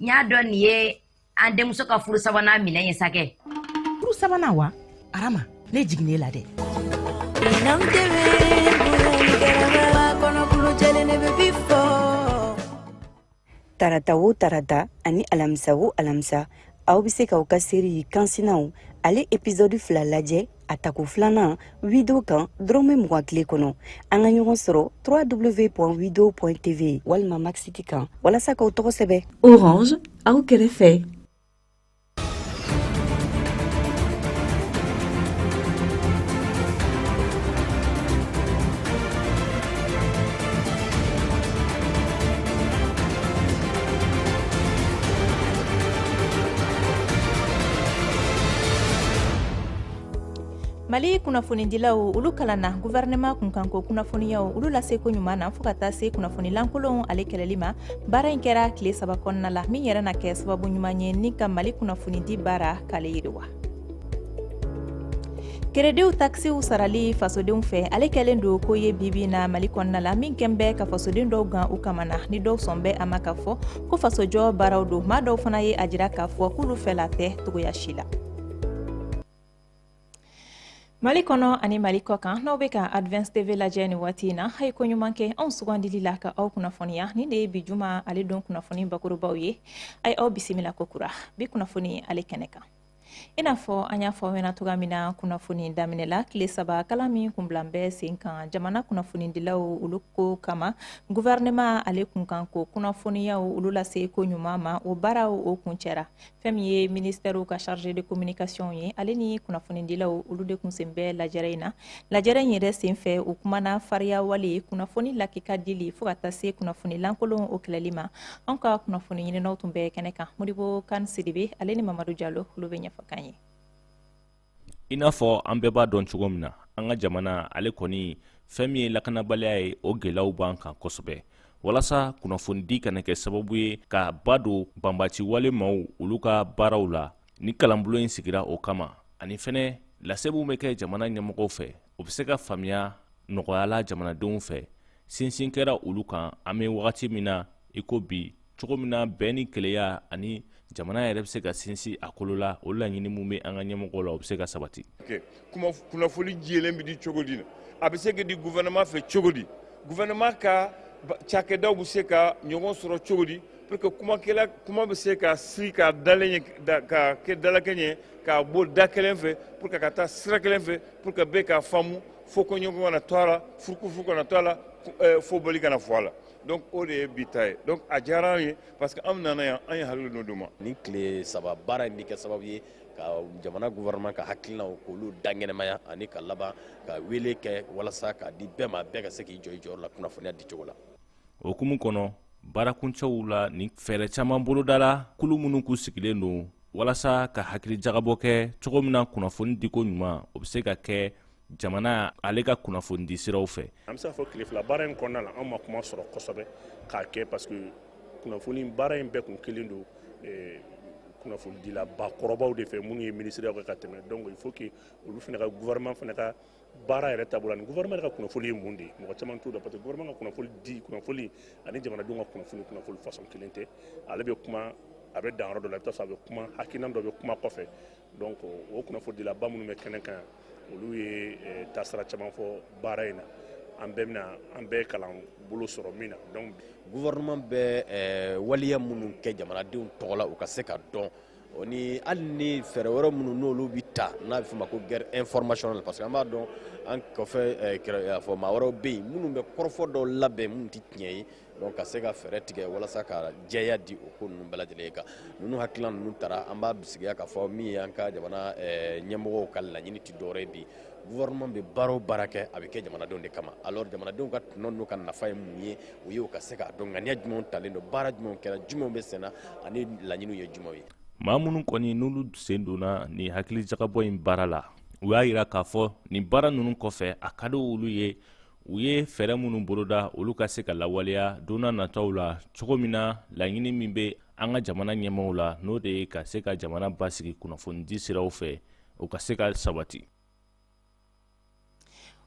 n y'a dɔn nin ye an denmuso ka furu sabanan minɛn ye sa kɛ furu sabanan wa arama ne jiginne la dɛ tarata wo tarata ani alamisa wo alamisa aw bɛ se k'aw ka seri kansinaw ale episɔdi fila lajɛ a tako filanan wido kan dɔrɔmɛ mugan tile kɔnɔ an ka ɲɔgɔn sɔrɔ www wido tv walima maxiti kan walasa k'aw tɔgɔ sɛbɛ orange aw kɛrɛfɛ mali kunnafonidilaw olu kalanna guvɛrɛnɛma kunkanko kunnafoniyaw olu laseko ɲuman na fo ka taa se kunnafoni lankolonw ale kɛlɛli ma baara in kɛra tile saba kɔnɔna la min yɛrɛ na kɛ sababu ɲuman ye ni ka mali kunnafonidi baara k'ale yiriwa kerediw takisiw sarali fasodenw fɛ ale kɛlen don ko ye bibi na mali kɔnɔna la min kɛn bɛ ka fasoden dɔw gan u kamana ni dɔw sɔn bɛ a ma k'a fɔ ko fasojɔ baaraw don maa dɔw fana ye a jira k'a fɔ k'olu fɛla tɛ cogoya si la mali kɔnɔ ani mali kɔkan n'aw bɛ ka advance tv lajɛ nin waati in na a ye ko ɲuman kɛ anw sugandili la ka aw kunnafoniya nin de ye bi juma ale don kunnafoni bakurubaw ye a ye aw bisimila ko kura bi kunnafoni ale kɛnɛ kan i n'a fɔ an y'a fɔ aw ɲɛna cogoya min na kunnafoni daminɛ la tile saba kalan min kun bilan bɛ sen kan jamana kunnafonidilaw olu ko kama guvɛrɛnɛma ale kunkan ko kunnafoniyaw olu lase ko ɲuman ma o baaraw o kuncɛra fɛn min ye ministɛriw ka chargé de communication ye ale ni kunnafonidilaw olu de kun sen bɛ lajɛrɛ in na lajɛrɛ in yɛrɛ sen fɛ u kumana fariya wale kunnafoni lakika dili fo ka taa se kunnafoni lankolon o kɛlɛli ma anw ka kunnafoni ɲininaw tun bɛ kɛnɛ kan modibo kan sidibe ale ni mamadu jalo olu bɛ ɲɛfɔ k'an ye i n'a fɔ an bɛɛ b'a dɔn cogo min na an ka jamana ale kɔni fɛn min ye lakanabaliya ye o gɛlɛyaw b'an kan kosɛbɛ walasa kunnafonidi kana kɛ sababu ye ka ba don banbaanci walemaw olu ka baaraw la nin kalanbolo in sigira o kama ani fɛnɛ lase min bɛ kɛ jamana ɲɛmɔgɔw fɛ o bɛ se ka faamuya nɔgɔya la jamanadenw fɛ sinsin kɛra olu kan an bɛ wagati min na i ko bi cogo min na bɛn ni kelenya ani jamana yɛrɛ bɛ se ka sinsin a kolo la o laɲini min bɛ an ka ɲɛmɔgɔw la o bɛ se ka sabati kunnafoni jɛlen bɛ di cogo di a bɛ se ka di gouvernement fɛ cogo di gouvernement ka cakɛdaw bɛ se ka ɲɔgɔn sɔrɔ cogo di pour que kuma bɛ se ka siri ka dalen ka kɛ dalakɛɲɛ k'a bɔ da kelen fɛ pour que ka taa sira kelen fɛ pour que bɛɛ k'a faamu fo koɲɔgɔn kana to a la furukufuruku kana to a la eh, fo boli kana fɔ a la donc o de ye bi ta ye donc a diyara an ye parce que an nana yan an ye hakili dɔ d'u ma nin tile saba baara in bɛ kɛ sababu ye ka jamana gouvernement ka hakilinaw k'olu dankɛnɛmaya ani ka laban ka wele kɛ walasa k'a di bɛɛ ma bɛɛ ka se k'i jɔ i jɔyɔrɔ la kunnafoniya di cogo la o hukumu kɔnɔ baarakuncɛw la ni fɛɛrɛ caman bolodala kulu minnu kun sigilen don walasa ka hakili jagabɔ kɛ cogo min na kunnafoni diko ɲuman o bɛ se ka kɛ jamana ale ka kunnafoni di siraw fɛ an bɛ se k'a fɔ tile fila baara in kɔnɔna la an ma kuma sɔrɔ kosɛbɛ k'a kɛ parce que kunnafoni baara in bɛɛ kun kɛlen don eh, kunnafonidilaba kɔrɔbaw de fɛ minnu ye minisiriyaw kɛ ka tɛmɛ donc il faut que olu fana ka gouvernement fana ka baara yɛrɛ taabolo ani gouvernement ka kunnafoli ye mun de ye mɔgɔ caman t'o dɔn parce que gouvernement ka kunnafoli di kunnafoli ani jamanadenw ka kunnafoli kunnafoli façon kelen tɛ ale bɛ kuma a bɛ dan yɔrɔ dɔ la i bɛ taa sɔrɔ a bɛ kuma hakilina dɔ bɛ kuma kɔfɛ donc o kunnafolidilaba minnu bɛ kɛnɛ kan olu ye eh, taasira caman fɔ baara in na an bɛɛ bɛna an bɛɛ kalan bolo sɔrɔ min na donc gouvernement bɛ eh, waleya minnu kɛ jamanadenw tɔgɔ la u ka se ka dɔn o ni hali ni fɛɛrɛ wɛrɛ minnu n'olu bɛ ta n'a bɛ f'o ma ko guerre informationnelle parce que an b'a dɔn an kɔfɛ eh, kɛrɛ- fɔ maa wɛrɛw bɛ yen minnu bɛ kɔrɔfɔ dɔw labɛn minnu tɛ tiɲɛ ye donc ka se ka fɛɛrɛ tigɛ walasa ka jɛya di o ko ninnu bɛɛ lajɛlen ye kan ninnu hakilina ninnu tara an b'a bisigiya k'a fɔ min ye an ka jamana eh, ɲɛmɔgɔw ka laɲini tɛ dɔwɛrɛ ye bi gouvernement bɛ baara o baara kɛ a bɛ kɛ jamanadenw de kama alors jamanadenw ka tɔnɔ n'u ka nafa ye mun ye o y'u ka se k'a dɔn ŋaniya jumɛnw talen don baara jumɛnw kɛra jumɛnw bɛ senna ani laɲiniw ye jumɛnw ye maa minnu kɔni n'olu sen donna nin hakili jagabɔ in baara la u y'a yira k'a fɔ nin baara ninnu kɔfɛ a ka di olu ye u ye fɛɛrɛ minnu boloda olu ka se ka lawaleya donna nataw la cogo min na laɲini min bɛ an ka jamana ɲɛmaaw la n'o de ye ka se ka jamana basigi kunnafonidi siraw fɛ o ka se ka sabati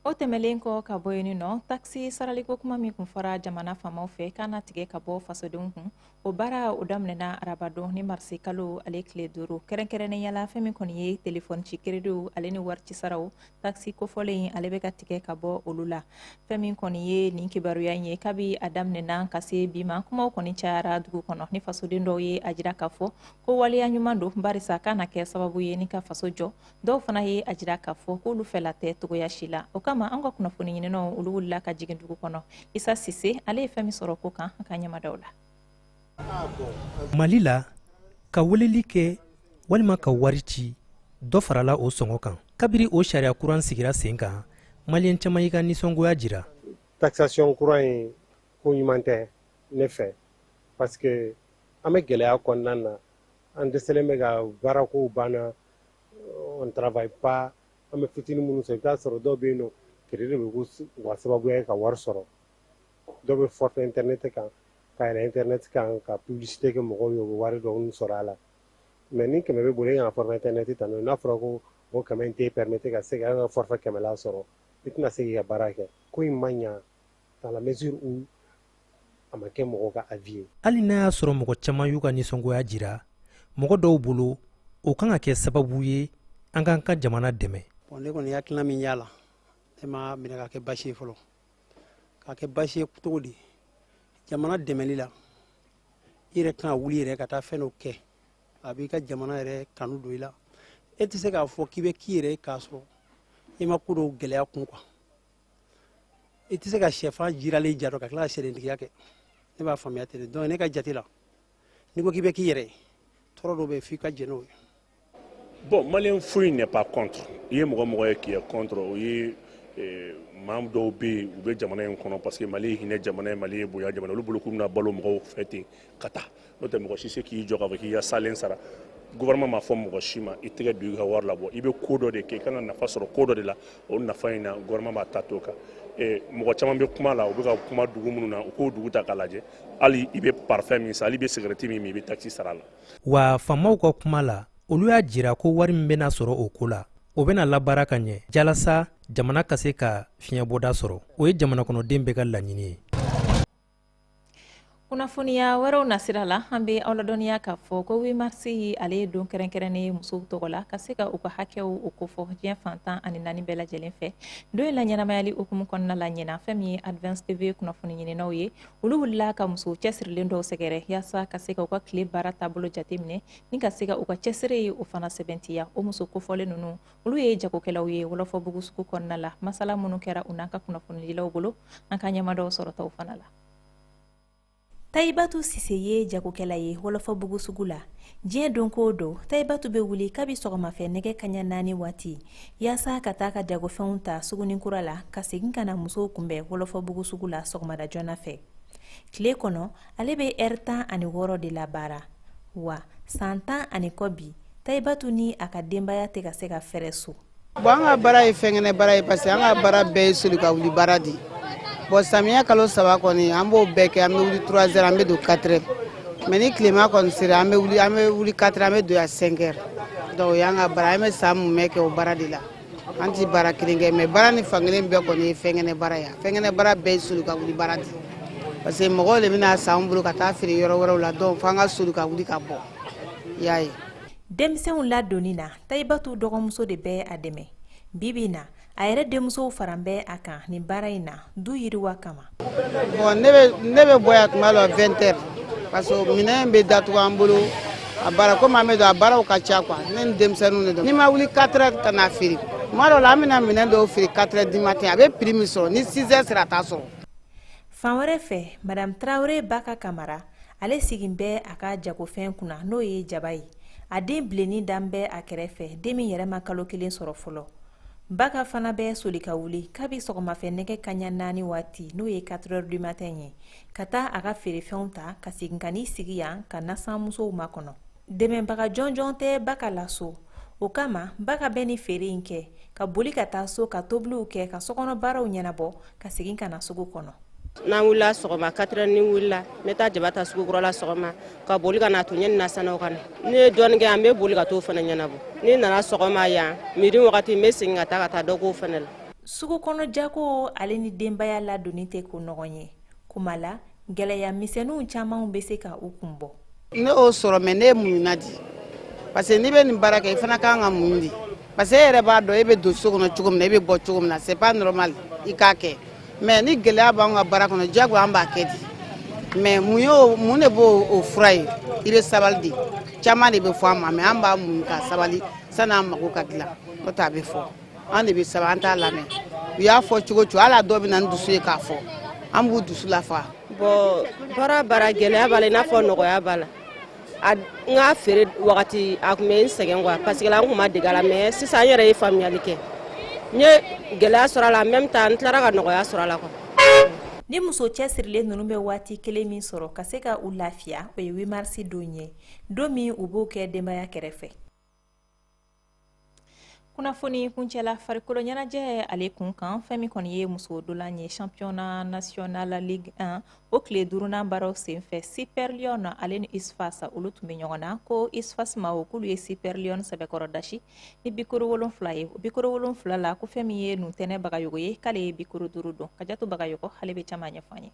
o tɛmɛlen kɔ ka bɔ yen nɔ takisi saraliko kuma min kun fɔra jamana faamaw fɛ k'a na tigɛ ka bɔ fasodenw kun o baara o daminɛna arabadon ni marisi kalo ale tile duuru kɛrɛnkɛrɛnnenya la fɛn min kɔni ye telefɔni ci kerediw ale ni warici saraw takisi kofɔlen ale bɛ ka tigɛ ka bɔ olu la fɛn min kɔni ye nin kibaruya in ye kabi a daminɛna ka se bi ma kumaw kɔni cayara dugu kɔnɔ ni fasoden dɔw ye a jira k'a fɔ ko waleya ɲuman don barisa k'a na kɛ sababu ye ni ka faso jɔ dɔw fana ye a jira k'a fɔ k'olu fɛla tɛ cogoya si la o kama an ka kunnafoni ɲininaw olu wulila ka jigin dugu kɔnɔ isa sise ale ye fɛn min sɔrɔ ko kan a k'a ɲɛ mada o la mali la ka weleli kɛ walima ka wari ci dɔ farala o sɔngɔ kan kabiri o sariya kuran sigira sen kan maliyɛn caman y'u ka nisɔngoya jira taxation kura in ko ɲuman tɛ ne fɛ parce que an bɛ gɛlɛya kɔnɔna na an dɛsɛlen bɛ ka baarakow banna on travaille pas an bɛ fitini minnu sɔrɔ i b'a sɔrɔ dɔw bɛ yen nɔ crédit de bɛ k'u ka sababuya ye ka wari sɔrɔ dɔw bɛ forfait internet kan ka yɛlɛ internet kan ka publicité kɛ mɔgɔw ye u bɛ wari dɔɔni sɔrɔ a la mais ni kɛmɛ b'i bolo e ka na forfait internet ta n'o ye n'a fɔra ko o kɛmɛ in t'e permettre ka se ka forfait kɛmɛla sɔrɔ i tɛna se k'i ka baara kɛ ko in ma ɲa dans la mesure où a ma kɛ mɔgɔw ka avis ye hali n'a y'a sɔrɔ mɔgɔ caman y'u ka nisɔngoya jira mɔgɔ dɔw bolo o kan ka kɛ sababu ye an k'an ka jamana dɛmɛ bɔn ne kɔni hakilina min y'a la ne m'a minɛ ka kɛ basi ye fɔlɔ ka kɛ basi ye cogo di jamana dɛmɛli la i yɛrɛ kan ka wuli yɛrɛ ka taa fɛn dɔ kɛ a b'i ka jamana yɛrɛ kanu don i la e tɛ se k'a fɔ k'i bɛ k'i yɛrɛ ye k'a sɔrɔ i ma ko dɔw gɛlɛya kun quoi i tɛ se ka sɛfan jiralen ja dun ka tila ka sɛdentigiya kɛ ne b'a faamuya ten de donc ne ka jate la n'i ko k'i bɛ k'i yɛrɛ ye tɔɔrɔ dɔw bɛ yen f'i ka jɛn n'o ye bon maliyɛn foyi n'est pas contre i ye mɔgɔ o mɔgɔ ye k'i y'a contre o ye eh, maa dɔw bɛ yen u bɛ jamana in kɔnɔ parce que mali ye hinɛ jamana ye mali ye bonya jamana olu bolo k'u bɛna balo mɔgɔw fɛ ten ka taa n'o tɛ mɔgɔ si se k'i jɔ k'a fɔ k'i ka salen sara gouvernement m'a fɔ mɔgɔ si ma i tɛgɛ don i ka wari labɔ i bɛ ko dɔ de kɛ i kan ka nafa sɔrɔ ko dɔ de la o nafa in na gouvernement b'a ta t'o kan mɔgɔ caman bɛ kuma la u bɛ ka kuma dugu minnu na u k'o dugu ta k'a lajɛ hali i bɛ parfɛn min san hali i bɛ sigarɛti min min i bɛ takisi sara a la wa faamaw ka kuma la olu y'a jira ko wari min bɛna sɔrɔ o ko la o bɛna labaara ka ɲɛ jalasa jamana ka se ka fiɲɛbɔda sɔrɔ o ye jamanakɔnɔden bɛɛ ka laɲini ye kunnafoniya wɛrɛw nasira la an bɛ aw ladɔnniya k'a fɔ ko huit mars ale ye don kɛrɛnkɛrɛnnen ye musow tɔgɔ la ka se ka u ka hakɛw o kofɔ diɲɛ fan tan ani naani bɛɛ lajɛlen fɛ don in laɲɛnamayali hukumu kɔnɔna la ɲinan fɛn min ye advance tv kunnafoni ɲininaw ye olu wulila ka musow cɛsirilen dɔw sɛgɛrɛ yaasa ka se ka u ka tile baara taabolo jateminɛ ni ka se ka u ka cɛsiri ye o fana sɛbɛntiya o muso kofɔlen ninnu olu ye jagokɛlaw ye wɔlɔfɔbugu sugu kɔnɔna la masala minnu kɛra u n'an ka kunnafonidilaw bolo an k'an ɲɛmada o sɔrɔtaw fana la tayibatu sise ye jagokɛla ye wɔlɔfɔbugu sugu la diɲɛ don ko don tayibatu bɛ wuli kabi sɔgɔmafɛ nɛgɛ kanɲɛ naani waati yaasa ka taa ka jagofɛnw ta sugunin kura la ka segin ka na musow kunbɛn wɔlɔfɔbugu sugu la sɔgɔmada joona fɛ tile kɔnɔ ale bɛ heure tan ani wɔɔrɔ de labaara wa san tan ani kɔ bi tayibatu ni a ka denbaya tɛ ka se ka fɛrɛ so bɔn an ka baara ye fɛnkɛnɛ baara ye parce que an ka baara bɛɛ ye soli ka wuli baara de bɔn samiya kalo saba kɔni an b'o bɛɛ kɛ an bɛ wuli trois heures an bɛ don quatre heures mais ni tilema kɔni sera an bɛ wuli quatre heures an bɛ don yan cinq heures donc o y'an ka baara an bɛ san mumɛ kɛ o baara de la an tɛ baara kelen kɛ mais baara ni fankelen bɛɛ kɔni ye fɛnkɛnɛ baara ya fɛnkɛnɛ baara bɛɛ ye soli ka wuli baara di parce que mɔgɔw de bɛna san an bolo ka taa feere yɔrɔ wɛrɛw la donc fo an ka soli ka wuli ka bɔ y'a ye denmisɛnw ladonni na tayibatu dɔgɔmuso de bɛ a dɛmɛ bi bi na a yɛrɛ denmusow faran bɛ a kan nin baara in na du yiriwa kama bon ne bɛ ne bɛ bɔ yan tuma dɔ 20 heures parce que minɛn bɛ datugu an bolo a baara komi an b'a dɔn a baaraw ka ca quoi ne ni denmisɛnninw de don n'i ma wuli 4 heures ka na feere tuma dɔw la an bɛna minɛn dɔw feere 4 heures du matin a bɛ prix min sɔrɔ ni 6 heures sera a t'a sɔrɔ. fan wɛrɛ fɛ madame traoré baka kamara ale sigin bɛ a ka jagofɛn kunna n'o ye jaba ye a den bilenni dan bɛ a kɛrɛfɛ den min yɛrɛ ma kalo kelen sɔrɔ fɔlɔ. Baka fana bɛ soli ka wuli kabi sɔgɔmafɛ nɛgɛ kaɲa naani waati n'o ye 4 heures du matin ye ka taa a ka feerefɛnw ta ka segin ka n'i sigi yan ka nasanmusow makɔnɔ dɛmɛbaga jɔnjɔn tɛ Baka la so o kama Baka bɛ ni feere in kɛ ka boli ka taa so ka tobiliw kɛ ka sokɔnɔ baaraw ɲɛnabɔ ka segin ka na sugu kɔnɔ n'an wulila sɔgɔma 4 heures ni n wulila n bɛ taa jaba ta sugu kura la sɔgɔma ka boli ka na to yanni nasannaw ka na ni n ye dɔɔni kɛ yan n bɛ boli ka t'o fana ɲɛnabɔ ni n nana sɔgɔma yan midi wagati n bɛ segin ka taa ka taa dɔ k'o fana la sugu kɔnɔ jago ale ni denbaya ladonni tɛ ko nɔgɔn ye kuma la gɛlɛya misɛnninw camanw bɛ se ka u kun bɔ ne y'o sɔrɔ mais ne ye muɲuna di parce que n'i bɛ nin baara kɛ i fana ka kan ka muɲu di parce que e yɛrɛ b'a dɔn e bɛ don so kɔnɔ cogo min na e bɛ bɔ cogo min na c'est pas normal i k'a kɛ mais ni gɛlɛya b'an ka baara kɔnɔ diyagoya an b'a kɛ di mais mun y'o mun de b'o fura ye i bɛ sabali de caman de bɛ fɔ an ma mais an b'a muɲu ka sabali san'an mago ka dilan n'o tɛ a bɛ fɔ an de bɛ sabali an t'a lamɛn u y'a fɔ cogo o cogo hali dɔ bɛ na ni dusu ye k'a fɔ an b'u dusu lafa bon baara baara gɛlɛya b'a la i n'a fɔ nɔgɔya b'a la n ka feere wagati a tun bɛ n sɛgɛn quoi parce que là n tun ma dege a la mais sisan n yɛrɛ ye faamuyali kɛ n ye gɛlɛya sɔrɔ a la en même temps n tilara ka nɔgɔya sɔrɔ a la quoi ni muso cɛsirilen ninnu bɛ waati kelen min sɔrɔ ka se ka u lafiya o ye 8 mars don ye don min u b'o kɛ denbaya kɛrɛfɛ kunnafoni kuncɛla farikolo ɲɛnajɛ ale kun kan fɛn min kɔni ye muso dolan ye championnat national ligue 1 o tile duurunan baaraw senfɛ super lionnes ale ni usfas olu tun bɛ ɲɔgɔn na ko usfas mɔgɔw k'olu ye super lionnes sɛbɛkɔrɔ dasi ni bi kuru wolonfila ye o bi kuru wolonfila la ko fɛn min ye nuntɛnɛ bagayogo ye k'ale ye bi kuru duuru don kajatu bagayogo ale bɛ caman ɲɛfɔ an ye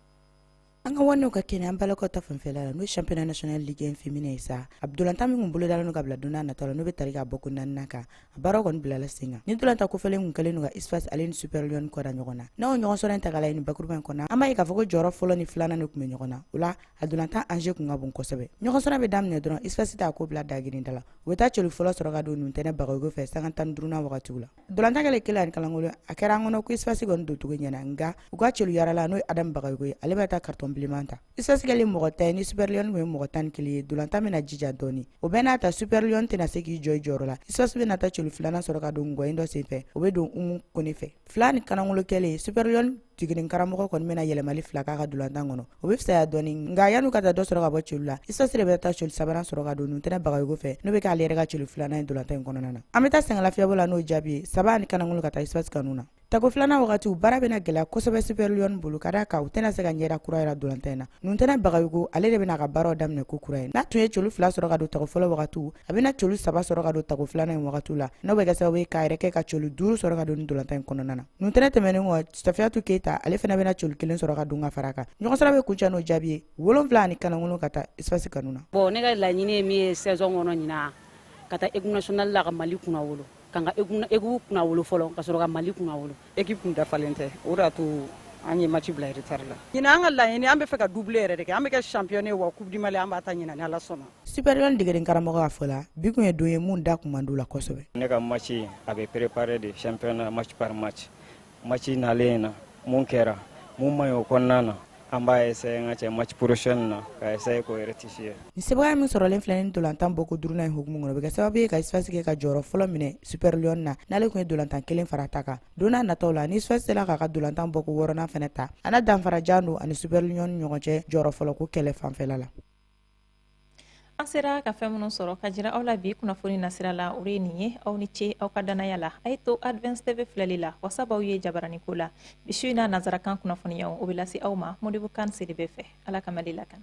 an ka waanew ka kɛnɛ an balakaw ta fanfɛla la n'o ye championnat national ligue 1 féminin ye sa a dolanta min kun bolodalen don ka bila don nataw la n'o be tali k'a bɔko naaninan kan a baaraw kɔni bilala sen kan ni dolanta kofɔlen kun kɛlen don ka usfas ale ni super lionnes kɔda ɲɔgɔn na n'aw ɲɔgɔn sɔrɔ in ta k'a lajɛ ni bakuruba in kɔnɔ an b'a ye k'a fɔ ko jɔyɔrɔ fɔlɔ ni filanan de kun be ɲɔgɔn na o la a dolantan enjeu kun ka bon kosɛbɛ ɲɔgɔn sɔrɔ be daminɛ dɔrɔn usfas t'a ko bila dagirinda la u be taa celu fɔlɔ sɔrɔ ka don nuntɛnɛ bagayogo fɛ sanga tan ni duurunan wagatiw la Dolantan kɛlen kelen ani kalankolon a kɛra an kɔnɔ ko USFAS kɔni doncogo ɲɛna nka u ka celu yalala n'o ye Adam Bagayogo ye ale bɛ taa carton bilenman ta USFAS kɛlen mɔgɔ tan ni Super Lion tun ye mɔgɔ tan ni kelen ye dolantan bɛna jija dɔɔni o bɛɛ n'a ta Super Lion tɛna se k'i jɔ i jɔyɔrɔ la USFAS bɛna taa celu filanan sɔrɔ ka don nɔgɔkɔ in dɔ senfɛ o bɛ don Umu Kone fɛ fila ni kanankolon kɛlen Super Lion degeden karamɔgɔ kɔni bɛna yɛlɛmali fila k'a ka dolantan kɔnɔ o bɛ fisaya dɔɔni nka yan'u ka taa dɔ sɔrɔ ka bɔ celu la USFAS de bɛ taa celu sabanan sɔrɔ ka don Nuntɛnɛ Bagayogo fɛ n'o bɛ k'ale yɛrɛ ka celu filanan ye dolantan in kɔnɔna na an bɛ taa sɛgɛnlafiɲɛbɔ la n'o jaabi ye saba ani kanangolo ka taa USFAS kanu na Tako filanan wagatiw baara bɛna gɛlɛya kosɛbɛ Super Lion bolo ka d'a kan u tɛna se ka ɲɛda kura jira dolantan in na. Nuntɛnɛ Bagayogo ale de bɛna a ka baaraw daminɛ ko kura ye. N'a tun ye celu fila sɔrɔ ka don tako fɔlɔ wagatiw, a bɛna celu saba sɔrɔ ka don tako filanan in wagatiw la, n'o bɛ kɛ sababu ye k'a yɛrɛ kɛ ka celu duuru sɔrɔ ka don nin dolantan in kɔnɔna na. Nuntɛnɛ tɛmɛnen kɔ Safiyatu Keyita ale fana bɛna celu kelen sɔrɔ ka don ka fara a kan ɲɔgɔn sɔrɔ bɛ kuncɛ n'o jaabi ye 7 ani kanangolo ka taa USFAS kanu na. Bon ne ka laɲini ye min ye saison kɔnɔ ɲinan ka taa équipe nationale la ka Mali kunnawolo ka n ka équipe kunnawolo fɔlɔ ka sɔrɔ ka Mali kunnawolo. Équipe tun dafalen tɛ o de y'a to an ye match bila retard la. Ɲinan an ka laɲini an bɛ fɛ ka doublé yɛrɛ de kɛ an bɛ kɛ championne ye wa coupe du Mali an b'a ta ɲinan ni Ala sɔnna. super lion degeden karamɔgɔ ka fɔ la bi kun ye don ye mun da kun man d'u la kosɛbɛ ne ka match a bɛ préparer de championnat match par match match nalen na mun kɛra mun man ɲi o kɔnɔna na an b'a essayer an ka cɛ match prochaine na ka essayer k'o rectifier ni sebaaya min sɔrɔlen filɛ ni dolantan bɔko duurunan in hukumu kɔnɔ o bɛ kɛ sababu ye ka USFAS kɛ ka jɔyɔrɔ fɔlɔ minɛ super lion na n'ale tun ye dolantan kelen fara ta kan don n'a nataw la ni USFAS sera k'a ka dolantan bɔko wɔɔrɔnan fana ta a na danfara jan don ani super lion ni ɲɔgɔn cɛ jɔyɔrɔ fɔlɔko kɛlɛ fanfɛla la an sera ka fɛn minnu sɔrɔ ka jira aw la bi kunnafoni nasira la o ye nin ye aw ni ce aw ka dannaya la a ye to advance tv filɛli la wasa b'aw ye jabarani ko la bi su in na nazarakan kunnafoniyaw o bɛ lase aw ma modibo kan sidibe fɛ ala ka mali lakana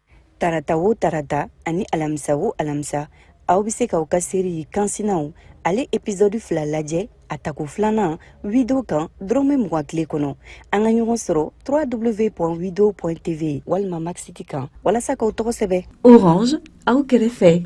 tarata o tarata ani alamisa o alamisa aw bɛ se k'aw ka série kansinaw ale épisode fila lajɛ a tako filanan wido kan dɔrɔmɛ mugan tile kɔnɔ an ka ɲɔgɔn sɔrɔ www wido tv walima max it kan walasa k'aw tɔgɔ sɛbɛ orange aw kɛrɛfɛ